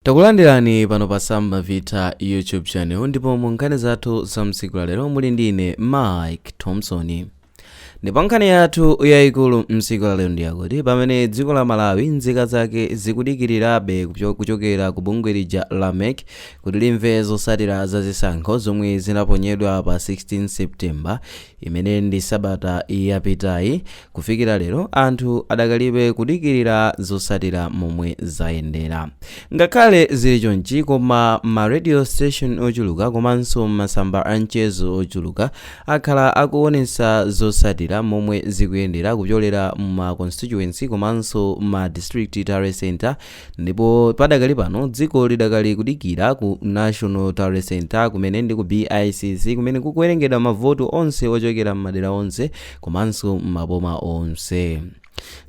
Takulandirani pano pa Samba Vita YouTube channel ndipo mu nkhani zathu za mtsiku la lero muli ndi ine Mike Thompson. Ndipo nkhani yathu yayikulu mtsiku la lero ndi yakuti pamene dziko la Malawi nzika zake zikudikirirabe kucho- kuchokera ku bungwe lija la mec kuti limve zotsatira za zisankho zomwe zinaponyedwa pa 16 September, imene ndi sabata yapitayi, kufikira lero anthu adakalibe kudikirira zotsatira momwe zayendera. Ngakhale zili chonchi koma ma radio station ochuluka komanso masamba a mchezo ochuluka akhala akuonetsa zotsatira momwe zikuyendera kupyolera mu ma constituency komanso ma district tally centre Ndipo padakali pano dziko lidakali kudikira ku National Tally Centre kumene ndi ku BICC kumene kukuwerengedwa mavoti onse ochokera m'madera onse komanso m'maboma onse.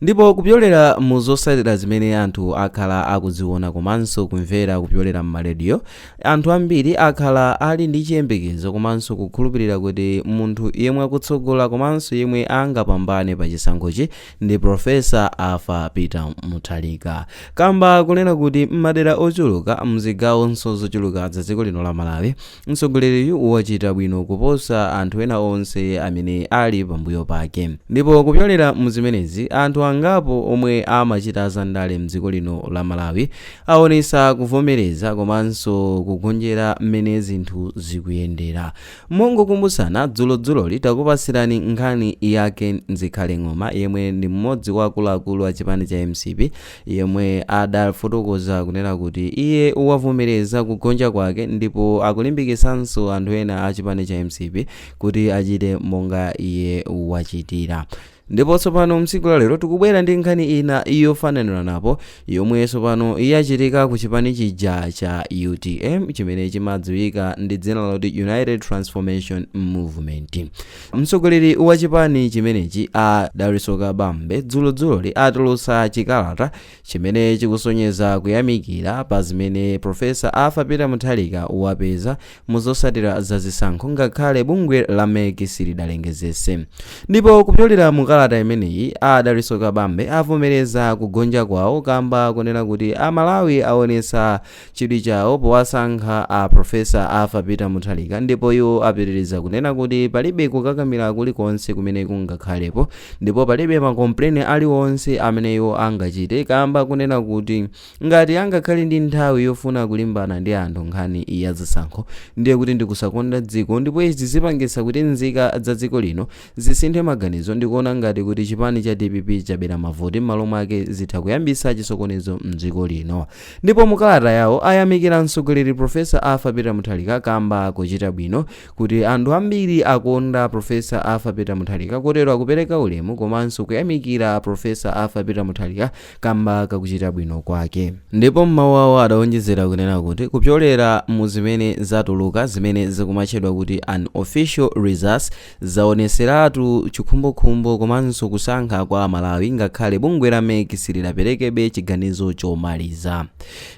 Ndipo kupyolera mu zotsatira zimene anthu akhala akuziona komanso kumvera kupyolera m'marediyo, anthu ambiri akhala ali ndi chiyembekezo komanso kukhulupirira kuti munthu yemwe akutsogola komanso yemwe angapambane pa chisankhochi ndi Professor Arthur Peter Mutharika kamba kunena kuti m'madera ochuluka mzigawonso zochuluka za dziko lino la Malawi, mtsogoleriyu wachita bwino kuposa anthu ena onse amene ali pambuyo pake. Ndipo kupyolera muzimenezi, anthu angapo omwe amachita za ndale mdziko lino la Malawi awonetsa kuvomereza komanso kugonjera m'mene zinthu zikuyendera. Mongokumbutsana dzulo dzuloli takupatsirani nkhani yake Zikhale Ng'oma yemwe ndi mmodzi wa akuluakulu a chipani cha mcp yemwe adafotokoza kunena kuti iye wavomereza kugonja kwake ndipo akulimbikitsanso anthu ena a chipani cha mcp kuti achite monga iye wachitira. Ndipo tsopano, mtsiku la lero tikubwera ndi nkhani ina yofananiranapo yomwe tsopano yachitika ku chipani chija cha utm chimene chimadziwika ndi dzina loti united transformation movement mtsogoleri wa chipani chimenechi a Dalitso Kabambe dzulodzuloli atulutsa chikalata chimene chikusonyeza kuyamikira pa zimene Professor Arthur Peter Mutharika wapeza mu zosatira za zisankho ngakhale bungwe la mec silidalengezese. Ndipo kupyolera mu kalata imeneyi, a Dalitso Kabambe avomereza kugonja kwawo kamba kunena kuti a Malawi awonetsa chidwi chawo powasankha a Professor Arthur Peter Mutharika ndipo iwo apitiriza kunena kuti palibe kukakamira kuli konse kumene kungakhalepo ndipo palibe ma complain ali onse amene iwo angachite kamba kunena kuti ngati angakhale ndi nthawi yofuna kulimbana ndi anthu nkhani ya zisankho ndiye kuti ndikusakonda dziko ndipo izi zipangitsa kuti nzika za dziko lino Zisinthe maganizo ndikuona ngati kuti chipani cha dpp chabera mavoti m'malo mwake zitha kuyambisa chisokonezo mdziko lino. Ndipo mu kalata yawo ayamikira mtsogoleri Prof. Arthur Peter Mutharika kamba kochita bwino kuti anthu ambiri akonda Prof. Arthur Peter Mutharika kotero akupereka ulemu komanso kuyamikira Prof. Arthur Peter Mutharika kamba kakuchita bwino kwake. Ndipo m'mawu awo adaonjezera kunena kuti kupyolera mu zimene zatuluka zimene zikumatchedwa kuti Unofficial Results, Zaoneseratu chikhumbokhumbo komanso kusankha kwa amalawi ngakhale bungwe la mec silidaperekebe chiganizo chomaliza.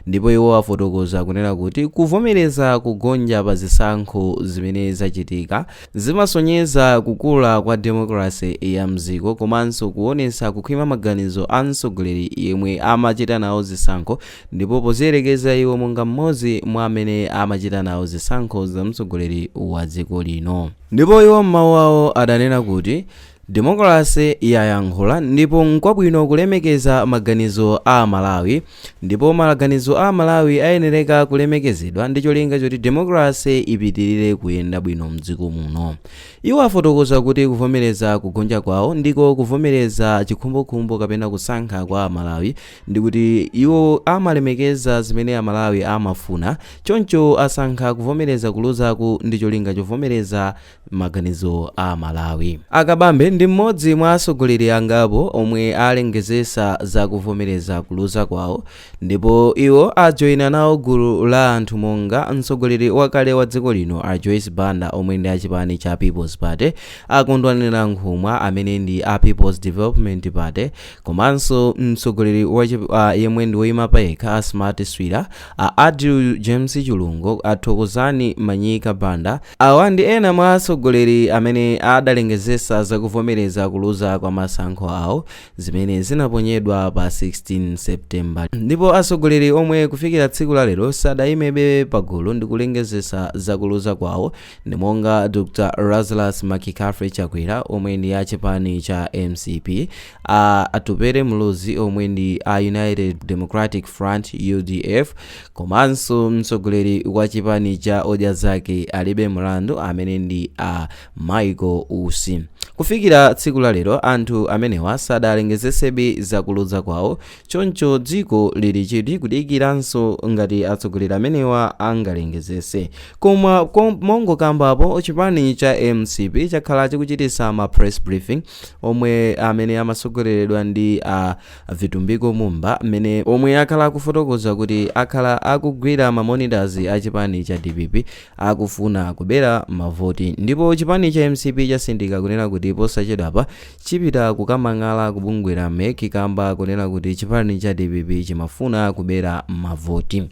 Ndipo iwo afotokoza kunena kuti kuvomereza kugonja pa zisankho zimene zachitika zimasonyeza kukula kwa demokalase ya mziko komanso kuonesa kukhwima maganizo a mtsogoleri yemwe amachita nawo zisankho Ndipo poziyerekeza iwo monga m'modzi mwa amene amachita nawo zisankho za mtsogoleri wa dziko lino. Ndipo iwo m'mawu awo adanena kuti, Demokalase yayankhula ndipo nkwabwino kulemekeza maganizo a Amalawi ndipo maganizo a Amalawi ayenereka kulemekezedwa ndi cholinga choti demokalase ipitilire kuyenda bwino mdziko muno. Iwo afotokoza kuti kuvomereza kugonja kwawo ndiko kuvomereza chikhumbokhumbo kapena kusankha kwa Amalawi ndikuti iwo amalemekeza zimene Amalawi amafuna choncho asankha kuvomereza kuluzaku ndi cholinga chovomereza maganizo a Amalawi. A Kabambe ndi m'modzi mwa atsogoleri angapo omwe alengezesa za kuvomereza kuluza kwawo ndipo iwo ajoina nawo gulu la anthu monga mtsogoleri wakale wa dziko lino a Joyce Banda omwe ndi a chipani cha People's Party, a Kondwani Nankhumwa amene ndi a People's Development Party, Komanso mtsogoleri wa chip, uh, yemwe ndi woyima payekha a Smart Swira, a Adil James Chilungo, a Thokozani Manyika Banda, awa ndi ena mwa atsogoleri amene adalengezesa zakuvomereza kuluza kwa masankho awo zimene zinaponyedwa pa 16 September. Ndipo atsogoleri omwe kufikira tsiku la lero sadayimebe pagulu ndi kulengezesa zakuluza kwawo Ndi monga Dr Lazarus McCarthy Chakwera omwe ndi a chipani cha mcp, a Atupele Muluzi omwe ndi a United Democratic Front, udf, komanso mtsogoleri wa chipani cha Odya Zake Alibe Mlandu amene ndi a Michael Usi. Kufikira tsiku la lero, anthu amenewa sadalengezesebe za kuluza kwawo Choncho dziko lili chidwi kudikiranso ngati atsogoleri amenewa angalengezese. Koma mongokambapo chipani cha mcp chakhala chikuchitisa ma press briefing omwe amene amatsogoleredwa ndi a Vitumbiko Mumba omwe akhala akufotokoza kuti akhala akugwira ma monitors a chipani cha dpp akufuna kubera mavoti ndipo chipani cha mcp chasindika kunena kuti posachedwapa chipita kukamang'ala ku bungwe la mec kamba kunena kuti chipani cha dpp chimafuna kubera mavoti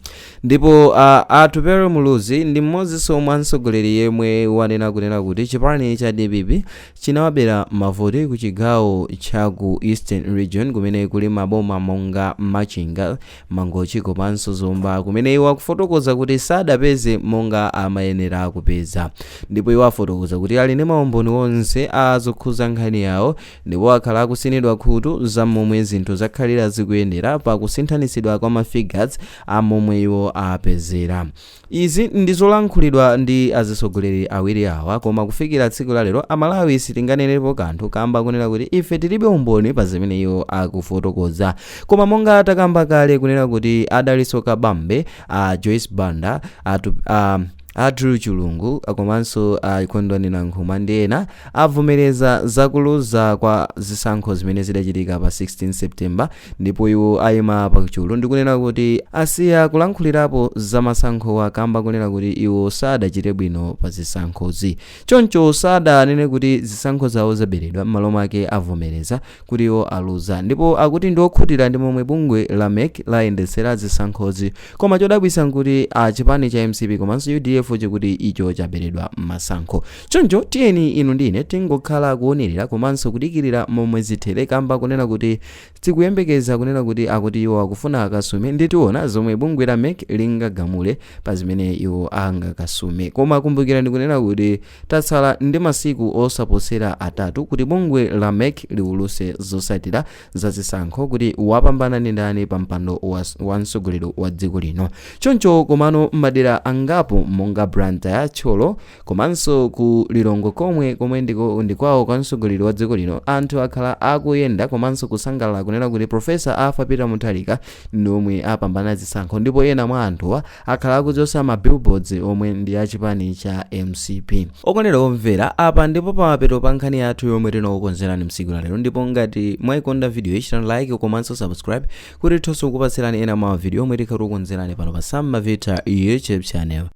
ndipo a atupere muluzi ndi mmodzinso mwa atsogoleri yemwe wanena kunena kuti chipani cha dpp chinawabera mavoti ku chigawo cha ku eastern region kumene kuli maboma monga machinga Mangochi komanso Zomba kumene iwo akufotokoza kuti sadapeze monga amayenera kupeza. Ndipo iwo afotokoza kuti ali ndi maumboni onse a zokhuza nkhani yawo ndipo akhala akusinidwa khutu za mmomwe zinthu zakhalira zikuyendera pa kusinthanitsidwa kwa ma figures a momwe iwo apezera. Izi ndi zolankhulidwa ndi azitsogoleri awiri awa koma kufikira tsiku la lero a Malawi sitinganenerepo kanthu kamba kunena kuti ife tilibe umboni pa zimene iwo akufotokoza koma monga takamba kale kunena kuti a Dalitso Kabambe, a Joyce Banda, a, a Andrew Chulungu komanso a Kondwani Nankhumwa ndi ena avomereza za kuluza kwa zisankho zimene zidachitika pa 16 September Ndipo iwo aima pa chulu ndi kunena kuti asiya kulankhulirapo za masankhowa kamba kunena kuti iwo sadachite bwino pa zisankhozi. Choncho sadanene kuti zisankho zawo zaberedwa m'malo mwake avomereza kuti iwo aluza ndipo akuti ndiokhutira ndi momwe bungwe la mec layendetsera zisankhozi koma chodabwitsa nkuti a chipani cha mcp komanso udf chikuti icho chaberedwa masankho. Choncho tiyeni inu ndi ine tingokhala kuonerera komanso kudikirira momwe zithere kamba kunena kuti tikuyembekeza kunena kuti akuti iwo akufuna akasume ndi tiona zomwe bungwe la mec lingagamule pa zimene iwo angakasume koma kumbukirani kunena kuti tatsala ndi masiku osaposera atatu kuti bungwe la mec liuluse zosatira zazisankho kuti wapambana ndi ndani pa mpando wa mtsogoleri wa dziko lino choncho komano madera angapo monga blantyre thyolo komanso ku lilongwe komwe ndikwawo kwa mtsogoleri wa dziko lino anthu akhala akuyenda komanso kusangalala kunena kuti profesa arthur peter mutharika ndi omwe apambana zisankho ndipo ena mwa anthuwa akhala akuchosa ma billboards omwe ndi a chipani cha mcp. Okondedwa omvera, apa ndipo pamapeto pa nkhani yathu yomwe tinakukonzerani msiku la lero ndipo ngati mwaikonda video yi chitani like komanso subscribe kuti tithenso kukupatsirani ena mwa video omwe tikhala tikukonzerani pano pa Sam Mavita YouTube channel.